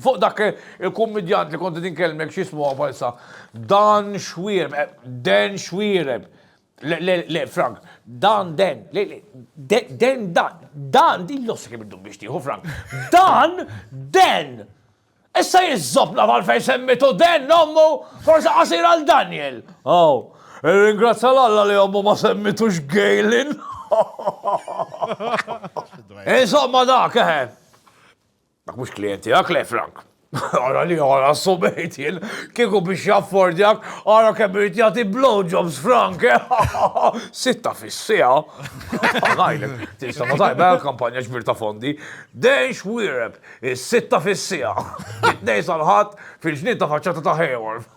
Fuq dak il-kummidjant li kont qed inkellmek x'ismu huwa bħalissa? Dan Xwiereb, Dan Xwiereb. Le, le, le, Frank, Dan Den, le, le, Den Dan, Dan din l-ossa kemm iddum biex tieħu Frank. Dan Den! Issa jiżżobna għalfejn semmitu Den ommu forsi qasir għal Daniel. Aw, irringrazzja l-Alla li ommu ma semmitux Galen. Insomma dak, eħe. Dak mhux klijent tiegħek, le Frank. Ara li ara s-subejt jien, kieku biex jaffordjak, ara kemm irid jagħti blowjobs Frank, eh? Sitta fis-siegħa. Ngħidlek, tinsama tajba l-kampanja ġbir ta' fondi. Dejn xwiereb, is-sitta fis-siegħa. Mit-Tnejn sal-Ħadd fil-ġnien ta' faċċata ta' Hayworth.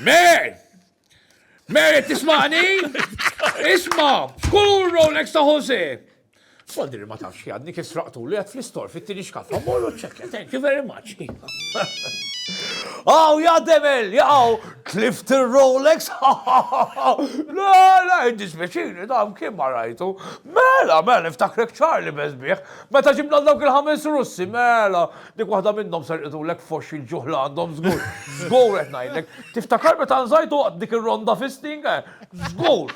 Mer! Mer, tismani? Isma, f'kull Rolex ta' Jose. Fodri ma tafx jadni kif sraqtu li għad fl-istor fit-tini xkaffa, morru ċekja, thank you very much. Aw, ja demel, jaw, tlift il-Rolex, la, la, id-dispeċini, dam kien ma rajtu. Mela, mela, niftakrek ċarli bezbiħ, meta ġibna dawk il-ħames russi, mela, Dik waħda minnhom serqitulek f'għoxx il-ġuħ li għandhom żgur. Żgur qed ngħidlek. Tiftakar meta nżajtu waqt dik ir-ronda fisting? Żgur!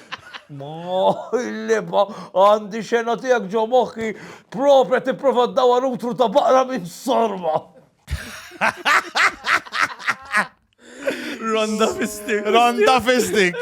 Ma il-liba għandi xena tiegħek ġo moħħi propja tipprova ddawar utru ta' baqra minn sorba. Ronda fisting. Ronda fisting.